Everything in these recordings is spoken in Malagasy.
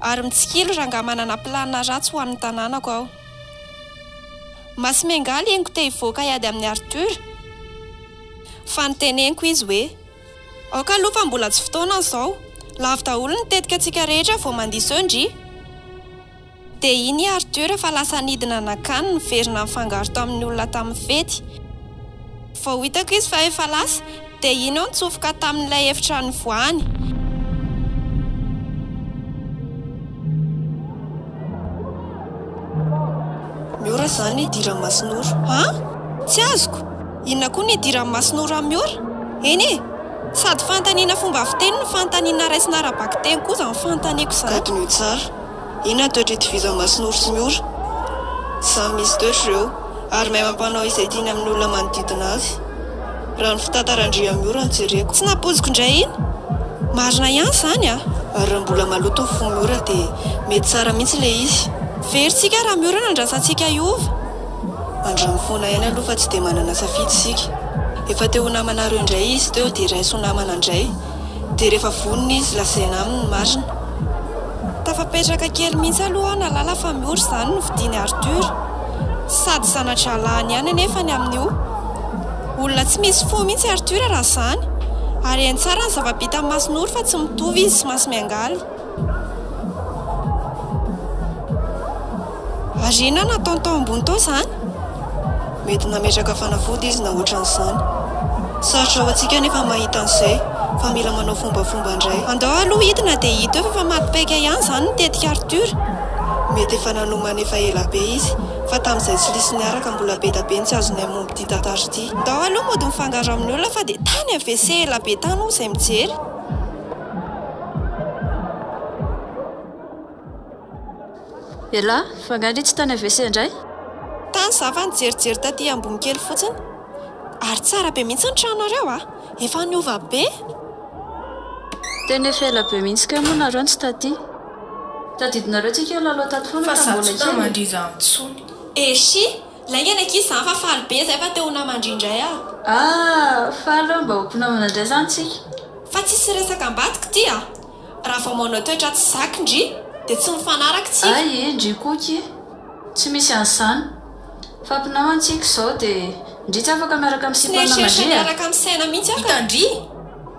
Ary mitsikilo rangah manana plan ratsy ho an'ny tanànako aho. Masimengaly henoko te hivoaka hiady amin'i Arthur fa noteneniko izy hoe, aoka aloha fa mbola tsy fotoana izao, lavo daholo ny tetika antsika rehetra vao mandiso eo ndry. Dia iny i Arthur fa lasa nidina nakany niverina nifangaro tamin'ny olona tamin'ny fety. Vao hitako izy fa efa lasa dia iny aho nitsofoka tamin'ilay efitra nivoahany. Miora izany ny hidiran'i Masinoro. An? Tsy azoko! Inona koa ny hidiran'i Masinoro an'i Miora? Eny e! Sady fanontaniana fomba fiteny no fanontaniana raisina ara-bakiteny koa izany fanontaniako izany. Gadon'io tsara. Inona toetra itovizan'i Masonoro sy ny ora? Samy misy toetra ireo, ary mahay mampanao izay tiany amin'ny olona manodidina azy, raha ny fitantaran-dRiamiora no jereko. Tsy nampoiziko indray iny! Marina ihany izany a! Ary raha mbola maloto ny fon'i Ora dia mety tsara mihitsy ilay izy. Very tsika Ramiora no andrasantsika hiova. Androany foana ihany aloha fa tsy dia manana safidy isika. Efa te ho namanareo indray izy teo dia raiso ho namana indray. dia rehefa vonona izy lazaina aminy ny marina. Tafapetraka kely mihitsy aloha aho nahalala fa Miora izany no fidiny Arthur. Sady zana-drahalahin ihany anefa ny amin'io. Olona tsy misy fo mihitsy Arthur raha izany. Ary hainy tsara ny zava-bitan'i Masonoro fa tsy mitovy izy sy Masimiangaly. Ary inona no ataony tao ambony tao izany? Mety nametraka fanafody izy na ohatran'izany. Sarotra ho antsika anefa mahita an'izay fa mila manao fombafomba indray. Andao aloha hidina dia hita eo fa efa maty paika ihany izany ny tetik'i Arthur. Mety efa nanomana efa ela be izy fa tamin'izay tsy lisy niaraka mbola be da be ny tsy azonay momba ity tantara ity. Ndao aloha mody mifangaro amin'ny olona fa dia tany AVC ela be tany hoy izay mijery. Elah, fa nga anie tsy tany AVC indray? Tany za fa nijerijery taty ambony kely fotsiny. Ary tsara be mihitsy ny tranonareo a! Efa niova be! Tena efa ela be mihitsy kay moa nareo no tsy taty. Tadidinareo tsika io lalao taty foana raha mbola kely e! Fa za tsy mba mandriza intsony. Eshi! Lainga ny ankizy zany fa faly be zay fa te ho namandry indray aho. Ah! Faly aho mba ho mpinamana indray zany tsika. Fa tsisy resaka ambadika ty a! Raha vao manao toetra tsy zaka ndry dia tsy mifanaraka tsika. Ay ee ndry koky ee! Tsy misy an'izany. Fa mpinamana tsika izao dia ndry tsy afaka miaraka amin'ny Tsy sipan'ny nieritreritra namandry a! niaraka misaina mihitsy aho ka. Hita ndry!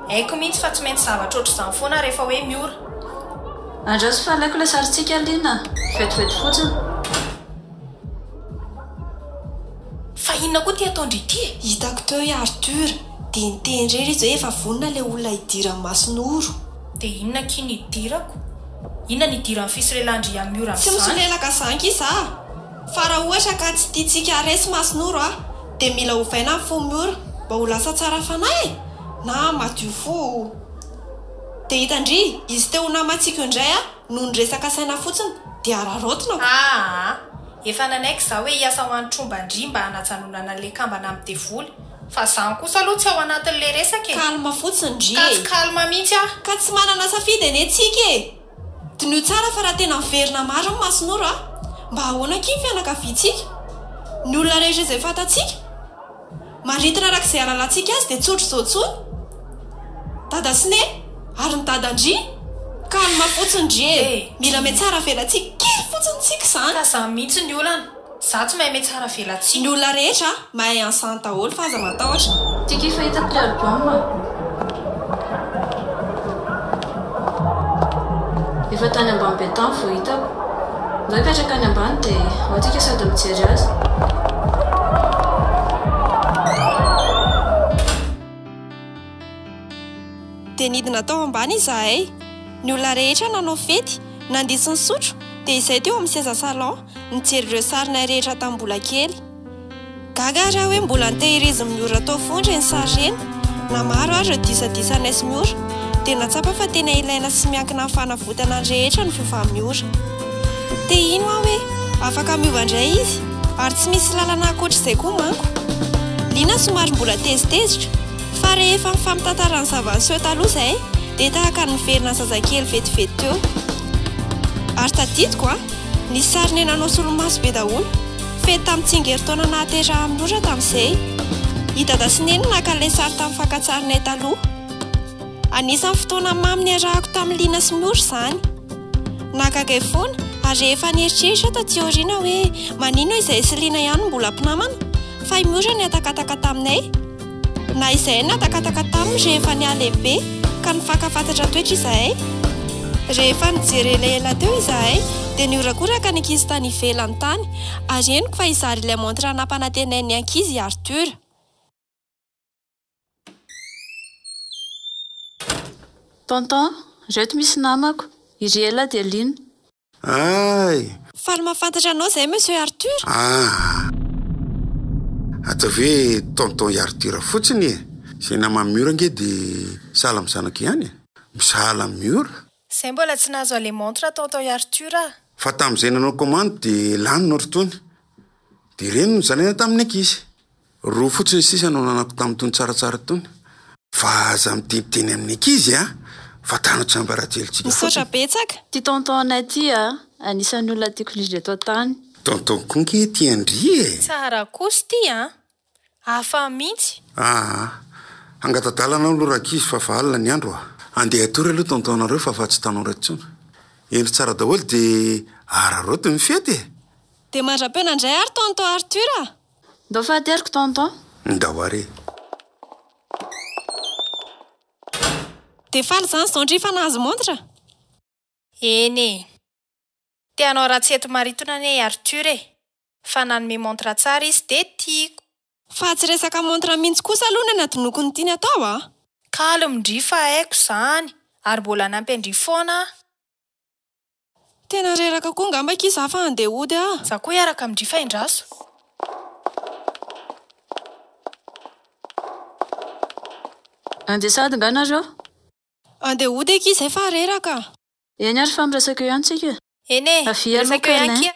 Haiko mihitsy fa tsy maintsy zavatra ohatr'izany foana rehefa hoe miora. Andraso fa alaiko ilay sarintsika Lina! Vetivety fotsiny. Fa inona koa ity ataon-dry ity e? Hitako teo i Arthur dia niteny irery izy hoe efa vonona ilay olona hidiran'i Masinoro. Dia inona akia ny hidirako? Inona ny hidiran'ny fisolelahan-dry Yamiora amin'izany? Tsy misolelaka izany akia za. Fa raha ohatra ka tsy tiantsika haharesy Masinoro a! dia mila ovaina ny fon'i Miora mba ho lasa tsara fanahy e! na madio fo. Dia hitan-dry izy teo ho namantsika io indray a! Noho ny resaka saina fotsiny dia araraotina ko. Aa! Efa nanaiky za hoe hiasa ho an'i Tromba ndry mba hanajanonana an'le kambana amin'ny devoly. Fa zany kosa aloha tsy ao anatin'le resaka e! Calme fotsiny ndry e! Ka tsy calme mihitsy aho! Ka tsy manana safidy anie tsika e! Diniho tsara fa raha tena miverina marina Masonoro a! Mba ahoana akia ny fianakaviantsika? Ny olona rehetra izay fantatsika? Maritina araka izay halalantsika azy dia tsy ohatr'izao intsony Dada sy Neny ary ny Dada ndry calme fotsiny ndry e! Mila mihatsara avelatsiaka kely fotsiny tsika izany. Ka za mintsy ny olana. Za tsy mahay mihatsara avelatsiaka. Ny olona rehetra mahay enceinte daholo fa aza matahotra. Tiako efa hita mpihary baomba. Efa tany ambany be tany vao hitako. Ndao hipetraka any ambany dia ao tsika sady mijery azy. Dia nidina tao ambany izahay. Ny olona rehetra nanao fety, nandiso nisotro dia izay teo amin'ny seza salon nijery ireo sarinay rehetra tamin'ny mbola kely. Gaga ary aho hoe mbola nitehirizin'i Miora tao foana ireny sary ireny. Na maro ary ireo disadisanay sy Miora, dia nahatsapa fa tena ilaina sy miankina amin'ny fanavotana ny rehetra ny fiovan'i Miora. Te hino aho hoe afaka miova indray izy, ary tsy misy lalana ankoatr'izay koa manko. Liana somary mbola tezitezitra, fa rehefa nifampitantara ny zava-niseho taloha izahay, dia tahaka ny niverina zazakely vetivety teo. Ary tadidiko an! Ny sarinay nanao solomaso be daholo. Fety tamin'ny tsingerintaona nahaterahan'i Nora tamin'izay. I Dada sy Neny naka ilay sary tamin'ny fakan-tsarinay taloha. Anisan'ny fotoana mamy niarahako tamin'i Lina sy Nora izany. Nahagaga ahy foana ary rehefa nieritreritra aho taty aoriana hoe maninona izahay sy Lina ihany no mbola mpinamana fa i Nora nihatakataka taminay. Na izahay nahatakataka taminy rehefa nihalehibe ka nifankafantatra toetra izahay. Rehefa nijery elaela teo izahay dia nihorakoraka ny ankizy tany ivelany tany ary henoko fa hizara ilay montre nampanantenain'ny ankizy i Arthur. Tonton, ireto misy namako, i Ry Ela dia Lina. Aay! Faly mahafantatra anao izay Monsieur Arthur! Aah! Ataovy hoe Tonton i Arthur fotsiny e! Izay naman'i Miora ange dia sahala amin'ny zanako ihany e! Misahala amin'i Miora? Izay mbola tsy nahazo aller montre Tonton i Arthur a! Fa tamin'izay nanao commande dia lany ny otrtony. Dia ireny no nozalaina tamin'ny ankizy. Roa fotsiny sisa no ananako tamin'itony tsaratsara itony fa aza miteniteny amin'ny ankizy a! Fa tano tsiambarajely tsika fotsiny. Misaotra betsaka. Ty tonton anay ty a! Anisan'ny olona tiako indrindra eto an-tany. Tonton koa nge ty an-dry e! Tsara kos ty an! Hafa mintsy. Aa! Hangatadala anao aloha rankizy fa efa alina ny andro a! Andeha hatory aloha tonton anareo fa efa tsy tanora intsony. Hendry tsara daholo dia araraoty ny fety e! Dia mandra-peo nandray ary tonton Arthur a! Ndao fahateroko tonton. Ndao ary e. Dia faly izany izao ndry fa nahazo montre? Eny e. Te hanao ratsy eto Maritona anie i Arthur e. Fa nanome montre tsara izy dia tiako. Fa tsy resaka montre mihitsy kosa aloha no anadinoako ny tiany atao a. Calme ndry fa haiko izany ary mbola hanampy an-dry foana aho. Tena reraka koa ngamba akia za fa handeha hody ah. Za koa hiaraka amin-dry fa endraso. Andeha sahady nga nareo? Andeha hody akia izay fa reraka. Eny ary fa miresaka eo ihany tsika. Eny e, miresaka eo ihany akia.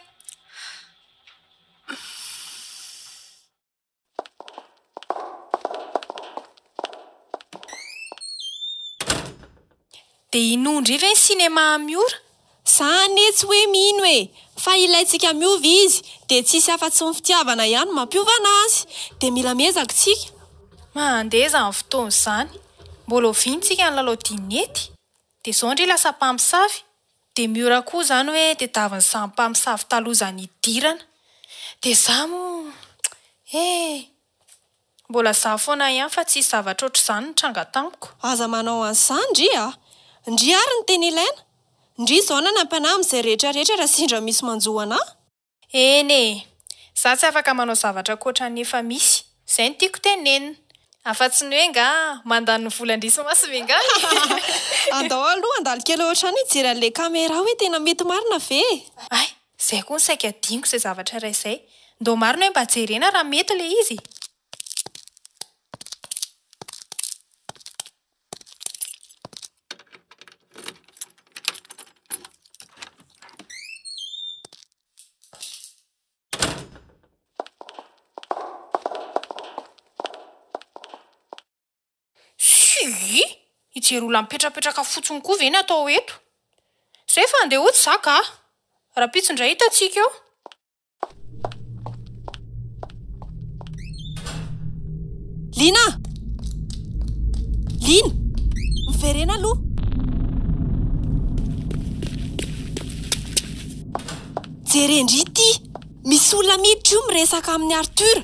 Dia hinoa indray ve ny sinema Miora? Za anie tsy hoe mino e! Fa ilaintsika miova izy, dia tsisy afa-tsy ny fitiavana ihany no mampiovana azy! Dia mila miezaka isika! Mandeha izany fotoana izany. Mbola oviana isika ny lalao dinety? Dia zao ndry lasa mpamosavy, dia Miora koa zany hoe tedaviny samy mpamosavy taloha zany hidirana. Dia za moa eh! Mbola za foana ihany fa tsisy zavatra ohatr'izany nitranga tamiko. Aza manao an'izany ndry a! Ndry ary ny teny ilaina, ndry zao na ny ampianahiny izay rehetra rehetra raha sendra misy manjo anah. Eny e! Za tsy afaka manao zavatra ankoatran'ny efa misy. Zay no tiako tenenina. Afa-tsy ny hoe ngaha mandany ny volan-drisy masy ve ngaha e! Andao aloha handalo kely ao an-trano hijery an'ilay camera hoe tena mety marina ve e! Ay! Zay koa no saika hadinoko izay zavatra iray izay. Ndao marina hoe mba jerena raha mety ilay izy e! Shuuii! Hijery olona mipetrapetraka fotsiny koa ve ny atao eto? Zay fa andeha hody za kah! Rahampitso indray hitantsika eo. Lina! Lina! Miverena aloha! Jerendry ity! Misy olona miditra io miresaka amin'i Arthur.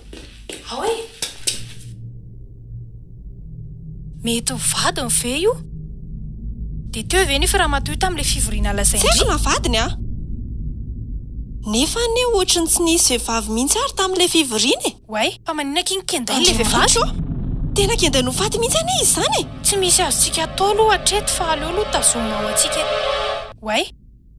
Ao e! Mety ho vadiny ve io? Dia teo ve nefa ramatoa io tamin'ilay fivoriana lazain-dry? Tsy aiko na vadiny an! Nefa anie ohatry ny tsy nisy vehivavy mihitsy ary tamin'ilay fivoriana e! Oay, fa maninona akia ny kendainy ilay vehivavy? Andriamanitra ô! Tena kendainy ho faty mihitsy anie izy izany e! Tsy misy azontsika atao aloha hatreto fa aleo aloha tazomina ao antsika e! Oay!